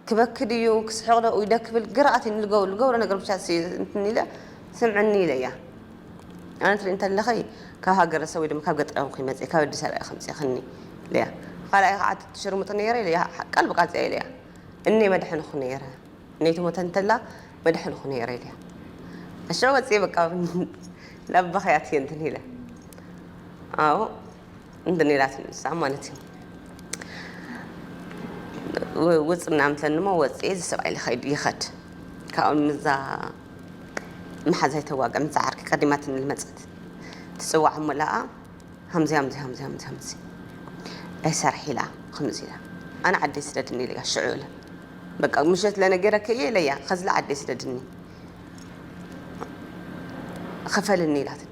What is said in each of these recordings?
ክበኪ ድዩ ክስሕቕ ዶ ኡይ ደ ክብል ግራ ኣትዩኒ ልገብሮ ልገብሮ ነገር ብቻ ሲ እንትን ኢለ ስምዕኒ ኢለያ ኣነ ትሪኢ እንተለኺ ካብ ሃገረሰብ ወይ ድማ ካብ ገጠር ኣይኮንኩይ መፂኤ ካብ ኣዲስ ኣበባ ኢኺ ኣምፂእኽኒ ኢለያ ኻልኣይ ኻዓ እቲ ትሽርሙጢ ነይረ ኢለያ ቃል ብቃል እዚኣ ኢለያ እኔ መድሐንኹ ነይረ እኔ ትሞተ እንተላ መድሐንኹ ነይረ ኢለያ እሺ ወፂኤ በቃ ናብ በኽያት እየ እንትን ኢለ ኣዎ እንትን ኢላት እዩ ንሳ ማለት እዩ ውፅ ምናምን ትለኒ እሞ ወፅኤ እዚ ሰብኣይ ልኸይድ ይኸድ ካብኡ ምዛ መሓዛይ ተዋግዕ ምዛ ዓርኪ ቀዲማትኒ ልመፀት ትፅዋዕ እሞ ለኣ ሃምዚ ሃምዚ ሃምዚ ሃምዚ ሃምዚ ናይ ሰርሒ ኢላ ከምዚ ኢላ ኣነ ዓደይ ስደድኒ ኢለያ ሽዑ ኢለ በቃ ምሸት ለነገረከ እየ ኢለያ ከዝላ ዓደይ ስደድኒ ኸፈልኒ ኢላትኒ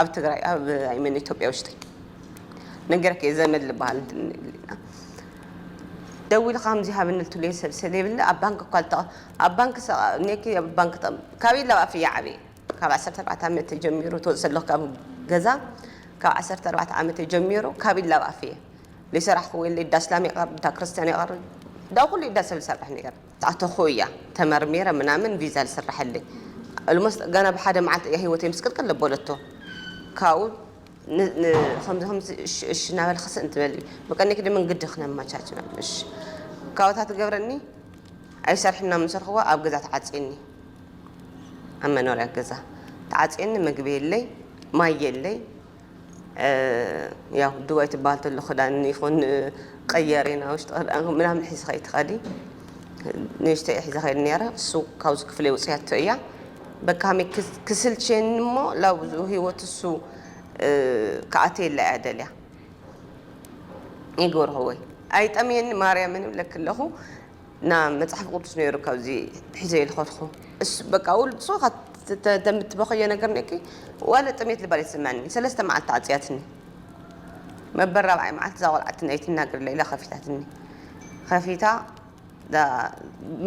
ኣብ ትግራይ ኣብ ኣይ ሚን ኢትዮጵያ ውሽጢ ነገረክ እየ ዘመድ ዝበሃል እንትን ይብልና ደዊሉ ከምዚ ሃብኒ ልትሉ እየ ሰብ ስለይብለ ኣብ ባንክ እኳ ልጠቐ ኣብ ባንክ ሰኔኪ ኣብ ባንክ ጠ ካበይ ላብ ኣፍ እየ ዓበየ ካብ ዓሰርተ ኣርባዕተ ዓመት ተጀሚሩ ትወፅእ ኣለኹ ካብ ገዛ ካብ ዓሰርተ ኣርባዕተ ዓመት ተጀሚሩ ካብ ላብ ኣፍ እየ ለይሰራሕኩ ወይ ለይዳስላም የቐርብ እንዳ ክርስቲያን የቐርብ እንዳ ኩሉ ኢዳ ሰብ ዝሰርሕ ነገር ኣተኹ እያ ተመርሚረ ምናምን ቪዛ ዝስረሐለይ ኦልሞስት ገና ብሓደ መዓልቲ እያ ሂወተይ ምስቅልቅል ለበለቶ ካብኡ ከምዚ ከምዚ እሺ እናበለ ክስእ እንትበል መቀኒክ ድምን ግዲ ክነመቻች እሺ ካብታ ትገብረኒ ኣይሰርሕ ምናምን ሰርኽዋ ኣብ ገዛ ተዓፅየኒ ኣብ መኖርያ ገዛ ተዓፅየኒ ምግቢ የለይ ማይ የለይ ያው ዱባይ ትበሃል ተሎ ክዳን ይኹን ቀየሪ ናብ ውሽጢ ክዳን ምናምን ሒዝኻ ይትኸዲ ንእሽተይ ሒዛ ከይድ ነረ እሱ ካብዚ ክፍለ ውፅያቶ እያ በካሚ ክስልቼን እሞ ላብዙ ህይወት እሱ ክኣተ የላ እያ ደልያ ይገብርኸወይ ኣይጠምየኒ ማርያምን እብለክ ኣለኹ ን መጽሓፍ ቅዱስ ነይሩ ካብዚ ሒዘ ልኸድኩ እስ በቃ ውል ብሱ ተምትበኸዮ ነገር ነኪ ዋለ ጥሜት ልባል የተሰማኒ ሰለስተ መዓልቲ ተዓጽያትኒ መበል ራብዓይ መዓልቲ ዛቆልዓትኒ ኣይትናገር ለኢላ ከፊታትኒ ከፊታ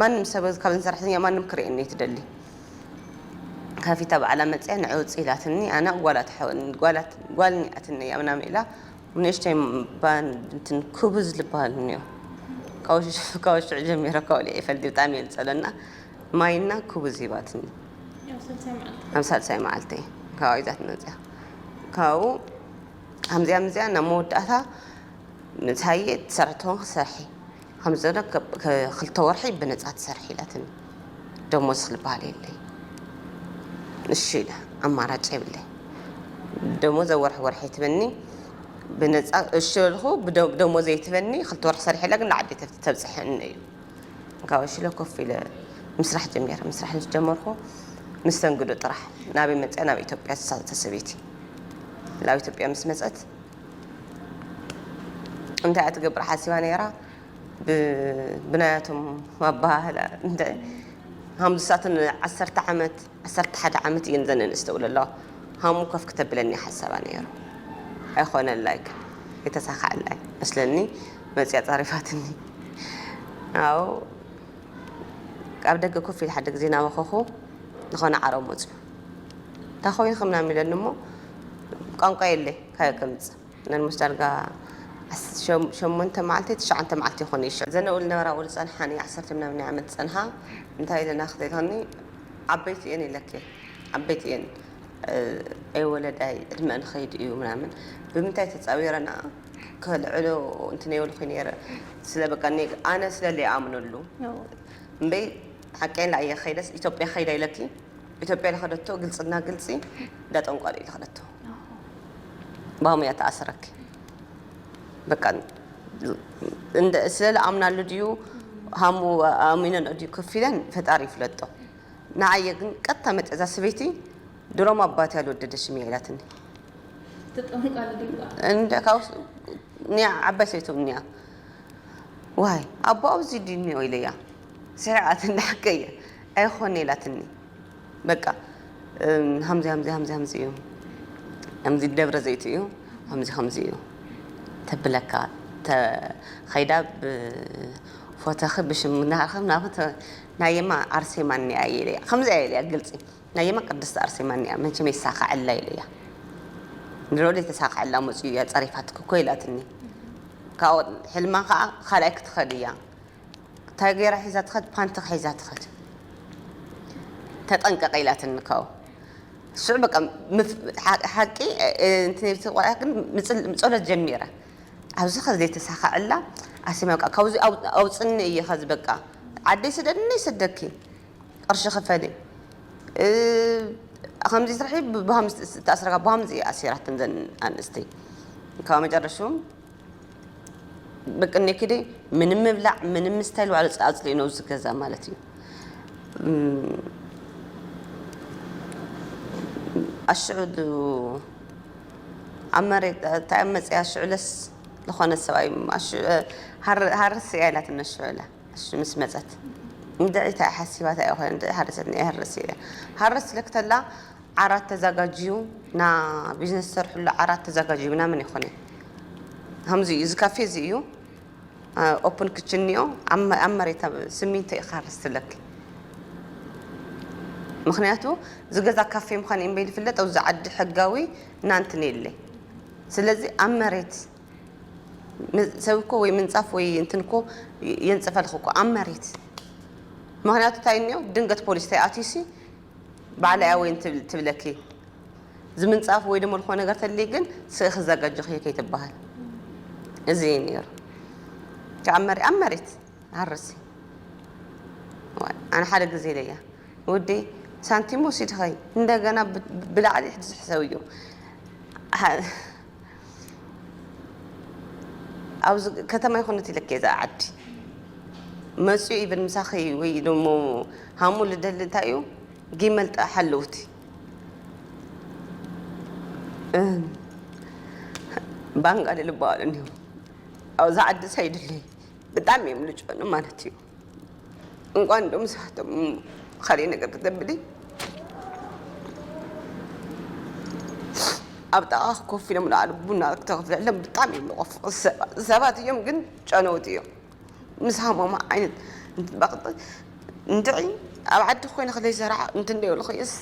ማንም ሰብ ካብ ሰራሕተኛ ማንም ክርእየኒ ኣይትደሊ ከፊታ በዓላ መጽያ ንዕውጽ ኢላትኒ ኣነ ጓላት ጓልኒኣትኒ ኣብናም ኢላ ንእሽተይ ባንድ እንትን ኩቡ ዝልባሃል እንዮ ካብ ሽዑ ጀሚረ ካብ ወሊዐ ይፈልጥ ብጣዕሚ እየ ዝፀለና ማይና ኩቡዝ ሂባትኒ ኣብ ሳልሳይ መዓልተይ ካብኡ ይዛትና መፅያ ካብኡ ከምዚኣ ምዚኣ ናብ መወዳእታ ምስ ሃየ ትሰርሕትኾን ክሰርሒ ከምዚ ዘሎ ክልተ ወርሒ ብነፃ ትሰርሒ ኢላትኒ ደሞዝ ዝበሃል የለይ እሺ ኢለ ኣማራጭ የብለይ ደሞዝ ኣብ ወርሒ ወርሒ ትበኒ ብነፃ እሺ በልኩ ደሞዘይ ትበኒ ክልተ ወርሒ ሰሪሐ ኢላ ግን ንዓዲ ተብፅሐኒ እዩ ካብ እሺ ኢለ ኮፍ ኢለ ምስራሕ ጀሚረ ምስራሕ ምስ ጀመርኩ መስተንግዶ ጥራሕ ናበይ መፅኣ ናብ ኢትዮጵያ ዝሳተሰበይቲ ናብ ኢትዮጵያ ምስ መፀት እንታይ እያ ትገብር ሓሲባ ነይራ ብናያቶም ኣባህላ እንታይ ሃም ንሳተን ዓሰርተ ዓመት ዓሰርተ ሓደ ዓመት እየን ዘን እንስተውለ ኣለዋ ሃሙ ከፍ ክተብለኒ ሓሳባ ነይሩ ኣይኮነላይ ግን የተሳካዕላይ መስለኒ መፅያ ፃሪፋትኒ ኣው ኣብ ደገ ኮፍ ኢል ሓደ ግዜ ናበኸኹ ዝኾነ ዓረብ መፅዩ እንታይ ኮይኑ ከምናም ኢለኒ እሞ ቋንቋ የለይ ካበይ ከምጽእ ነልሞስ ዳርጋ ዓሰርተ ሸሞንተ መዓልቲ ትሽዓተ መዓልቲ ይኾን እዩ ሽዑ ዘነኡ ልነበራ ኣብኡ ልጸንሓኒ ዓሰርተ ምናምን ዓመት ዝጸንሓ እንታይ ኢለና ክትብልኒ ዓበይቲ እየን ኢለኪ ዓበይቲ እየን ኣይ ወለዳይ ዕድመኣን ኸይዱ እዩ ምናምን ብምንታይ ተጻዊረና ከልዕሎ እንትን የብልኩ ነይረ ስለ በቃ ኣነ ስለ ለይኣምነሉ እምበይ ሓቀይን ለኣየ ከይደስ ኢትዮጵያ ከይዳ ኢለኪ ኢትዮጵያ ልኸደቶ ግልፅና ግልፂ እንዳ ጠንቋል እዩ ልኸደቶ ባም እያ ተኣሰረክ በቃ ስለ ልኣምናሉ ድዩ ሃሙ ኣሚነን ድዩ ከፍ ኢለን ፈጣሪ ይፍለጦ ንዓየ ግን ቀጥታ መጠዛ ስበይቲ ድሮም ኣባት ያልወደደሽም እያ ኢላትኒ እንደ ካብ ኒያ ዓባይ ሰበይቶም ኒያ ዋይ ኣቦ ኣብዚ ድዩ ኢለያ ሰሪዓት እንዳ ሓቀየ ኣይኾነ ኢላትኒ በቃ ሃምዚ ሃምዚ ሃምዚ ሃምዚ እዩ ከምዚ ደብረ ዘይት እዩ ከምዚ ከምዚ እዩ ተብለካ ከይዳ ብፎተኺ ብሽም ናኸም ናብ ናየማ ኣርሴማ እኒኣ ኢለያ ከምዚ እያ ኢለያ ግልፂ ናየማ ቅድስቲ ኣርሴማ እኒኣ መቸም የሳካዐላ ኢለያ ንሮ ዘይተሳክዐላ መፅኡ እያ ፀሪፋትክ እኮ ኢላትኒ ካብኡ ሕልማ ከዓ ካልኣይ ክትኸድ እያ እንታይ ገይራ ሒዛ ትኸድ ፓንት ሒዛ ትኸድ ተጠንቀቂ ኢላትኒ ካብኡ ንሱ በቃ ምፍ- ሓ- ሓቂ እ- እ- እንትን ኢልቲ ቆልዓ ግን ምፅል- ጸሎት ጀሚረ ኣብዚ ከ ዘይተሳኸዐላ ኣሲማ በቃ ካብዚ ኣው- ኣውፅኒ እየ ከዚ በቃ ዓደይ ስደድኒ ይስደኪ ቅርሺ ክፈሊ እ፣ ከምዚ ስርሒ ብሃምስ ተኣስረካ ብሃምዚ እየ ኣሲራትን ዘን ኣንስቲ ካብ መጨረሹ በቂ ኔኪደ ምንም ምብላዕ ምንም ምስታይ ባዕሉ ኣፅሊኡ ነው ዝገዛ ማለት እዩ ኣሽዑ ኣብ መሬት እንታይ ኣብ መፅያ ሽዑለስ ዝኾነ ሰብኣይ ሃርስ እያ ኢላትነ ሽዑለ ምስ መፀት እንድዒ እንታይ ሓሲባታ እያ ኮነ እንድዒ ሃረሰት እያ ሃርስ ኢለክተላ ዓራት ተዛጋጅዩ እና ቢዝነስ ዝሰርሕሉ ዓራት ተዛጋጅዩ ምናምን ይኮነ ከምዚ እዩ እዚ ካፌ እዚ እዩ ኦፕን ክችን እኒኦ ኣብ መሬት ስሚንቶ ኢካ ርስትለኪ ምክንያቱ ዝገዛ ካፌ ምኳን ኢምበይል ይፍለጥ ኣብዚ ዓዲ ሕጋዊ ናንትን የለ ስለዚ ኣብ መሬት ሰብ እኮ ወይ ምንፃፍ ወይ እንትን እኮ የንፅፈልክ እኮ ኣብ መሬት ምክንያቱ እንታይ እኒኦ ድንገት ፖሊስ ተይኣትዩሲ ባዕለይ ኣወይ እንትብል ትብለኪ ዝምንጻፍ ወይ ደሞ ልኾነ ነገር ተልይ ግን ስእ ክዘጋጀኽዮ ከይትበሃል እዚ እዩ ነይሩ ካብ መሪ ኣብ መሬት ሃርሲ ኣነ ሓደ ግዜ ኢለያ ውዲ ሳንቲም ወሲድኸይ እንደገና ብላዕሊ ሕድዚ ሕሰብዮ ኣብዚ ከተማ ይኹን እቲ ልክ እዛ ዓዲ መፅኡ ኢብን ምሳኺ ወይ ደሞ ሃሙ ልደሊ እንታይ እዩ ጊመልጣ ሓለውቲ ባንጋሊ ዝበሃሉ እኒሁ ኣብዚ ዓዲ ሳይድለይ ብጣዕሚ እዮም ልጮኑ ማለት እዩ እንኳን እንደውም ሳቶም ኸሬ ነገር ክትገብሊ ኣብ ጥቓ ኮፍ ኢሎም ንባዕሉ ቡና ክተኽፍለሎም ብጣዕሚ እዮም ልቆፍ ሰባት እዮም ግን ጨነውቲ እዮም ምስ ሃሞም ዓይነት እንትበቕጥ እንትዒ ኣብ ዓዲ ኮይነ ክለይ ሰራሕ እንትንደይብልኽየስ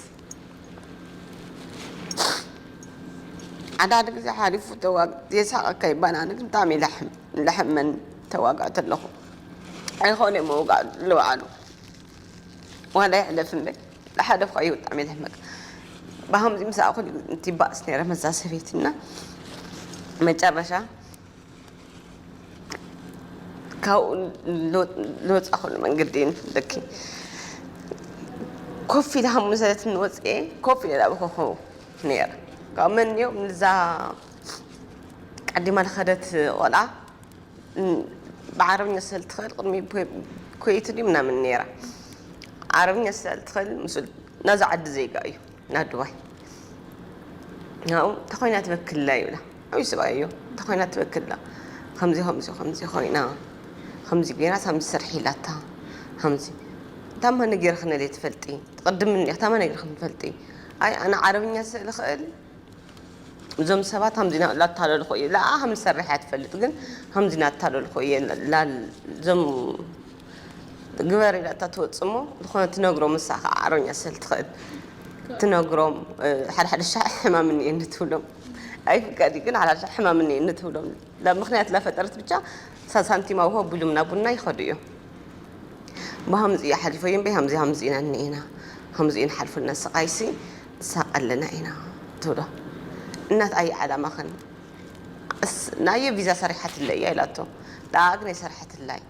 ሓዳሓደ ግዜ ሓሪፉ ተዋግ የሳቐካ ይባና ግን ብጣዕሚ ለሕም ለሕመን ተዋጋእ ተለኹ ኣይኮነ ምውጋእ ልባዕሉ ዋላ ይሕለፍ እምበይ ዝሓለፍካ እዩ ብጣዕሚ ዘሕመቅ ብሃምዚ ምሳኣ ኩሉ ትባእስ ነረ መዛ ሰበይቲ እና መጨረሻ ካብኡ ዝወፃእኩሉ መንገዲ ንፍለኪ ኮፍ ኢለ ሃሙ ሰለት ንወፅኤ ኮፍ ኢለ ዳበኸኹ ነረ ካብ መን እዮ ንዛ ቀዲማ ዝኸደት ቆልዓ ብዓረብኛ ስለእትኽእል ቅድሚ ኩዌት ድዩ ምናምን ነይራ ዓረብኛ ስለእትኽእል ምስ ናዛ ዓዲ ዜጋ እዩ ናብ ዱባይ ናብኡ ተኾይና ትበክላ ይብላ ዓብዪ ሰብኣይ እዩ ተኾይና ትበክላ ከምዚ ከምዚ ከምዚ ኮይና ከምዚ ገይራ ከምዚ ስርሒ ኢላታ ከምዚ ታማ ነገርክን እለ ትፈልጢ ትቕድምኒ ታማ ነገርክን ትፈልጢ ኣይ ኣነ ዓረብኛ ስለእኽእል እዞም ሰባት ሃምዚ ኢና ላታለልኹ እየ ላኣ ሃምዚ ሰራሕ እያ ትፈልጥ ግን ሃምዚ ናታለልኹ እየ ላል ዞም ግበር ኢላ እታ ትወጽእ እሞ ዝኾነ ትነግሮም ንሳ ከዓ ኣረኛ ስለ ትኽእል ትነግሮም ሓደ ሓደ ሻዕ ሕማም እኒኤ ንትብሎም ኣይፍቀድ ግን ሓደ ሓደ ሻዕ ሕማም እኒኤ ንትብሎም ምክንያት ላፈጠረት ብቻ ሳንቲም ኣውሆ ቢሉም ናብ ቡና ይኸዱ እዮም ብሃምዚ እያ ሓሊፎ እየም በይ ሃምዚ ሃምዚ ኢና እኒኤና ሃምዚ እዩ ንሓልፈልና ስቓይሲ ሳቅ ኣለና ኢና ትብሎ እናት ኣየ ዓላማኽን ኣስ ናየ ቪዛ ሰሪሓትለይ እያ ኢላቶ ንኣኣ ግን ኣይሰርሐትላይ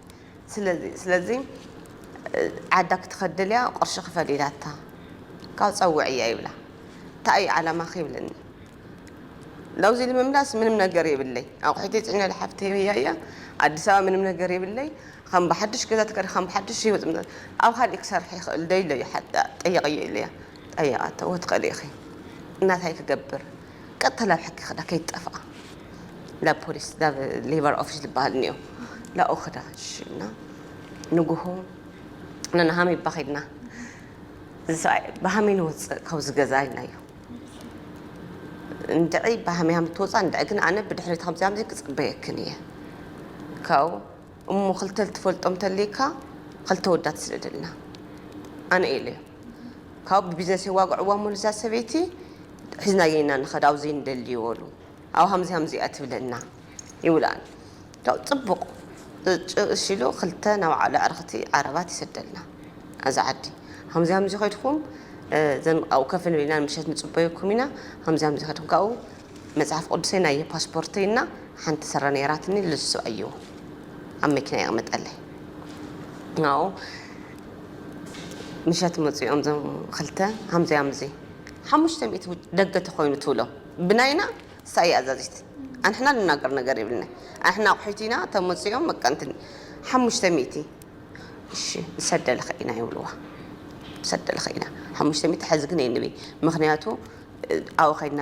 ስለዚ ስለዚ ዓዳ ክትኸድል እያ ቅርሺ ክፈል ኢላታ ካብ ጸውዕያ ይብላ እንታይ እዩ ዓላማኺ ይብለኒ ናብዚ ንምምላስ ምንም ነገር የብለይ ኣቑሒተይ ፅዒነ ልሓፍተይ ህያ እያ ኣዲስ ኣበባ ምንም ነገር የብለይ ከም ብሓድሽ ገዛ ተከሪ ከም ብሓድሽ ህይወት ኣብ ካልእ ክሰርሕ ይኽእል ዶ ኢለ እዩ ጠየቀዮ ኢለያ ጠይቓተዎ ትኽእሊ ኢኺ እናታይ ክገብር ቀጥታ ናብ ሕጊ ክዳ ከይትጠፍኣ ናብ ፖሊስ ናብ ሌበር ኦፊስ ዝበሃል እኒኦ ላኡ ክዳ ሽና ንጉሆ ንናሃሚ እባ ከድና እዚ ሰብኣይ ብሃመይ ንወፅእ ካብዚ ገዛ ኢልናዮ እንድዒ ብሃመይ ሃም ትወፅእ እንድዒ ግን ኣነ ብድሕሪት ከምዚ ከምዚ ክፅበየክን እየ ካብኡ እሞ ክልተ ልትፈልጦም እንተልይካ ክልተ ወዳት ስደደልና ኣነ ኤሌዮ ካብኡ ብቢዝነስ የዋግዕዋ እሞ ንዛ ሰበይቲ ሒዝናዬ ኢና ንኸድ ኣብኡ ዘይንደልዮ በሉ ኣብኡ ሃምዚ ሃምዚ እያ ትብለና ይብላን ካብኡ ጽቡቅ እጭ እሺ ኢሉ ክልተ ናይ ባዕሉ ኣዕርኽቲ ዓረባት ይሰደልና ኣዛ ዓዲ ሃምዚ ሃምዚ ከድኩም ዘን ኣብኡ ከፍ ንብል ኢና ንምሸት ንጽበየኩም ኢና ሃምዚ ሃምዚ ከድኩም ካብኡ መጽሓፍ ቁዱሰይ ናይ ፓስፖርተይ እና ሓንቲ ስረ ነይራትኒ ልሱ ኣዩ ኣብ መኪና የቅምጠለይ ናኡ ምሸት መጽኦም ዘም ክልተ ሃምዚ ኣምዚ ሓሙሽተ ሚእቲ ደገ ተኮይኑ ትብሎ ብናይና ሳይ ኣዛዚት ኣንሕና ንናገር ነገር የብልነ ኣንሕና ኣቁሒት ኢና ተመጽኦም መቀንትን ሓሙሽተ ሚእቲ እሺ ንሰደልክ ኢና ይብልዋ ንሰደልክ ኢና ሓሙሽተ ሚእቲ ሕዚ ግን የንብይ ምክንያቱ ኣኡ ከይድና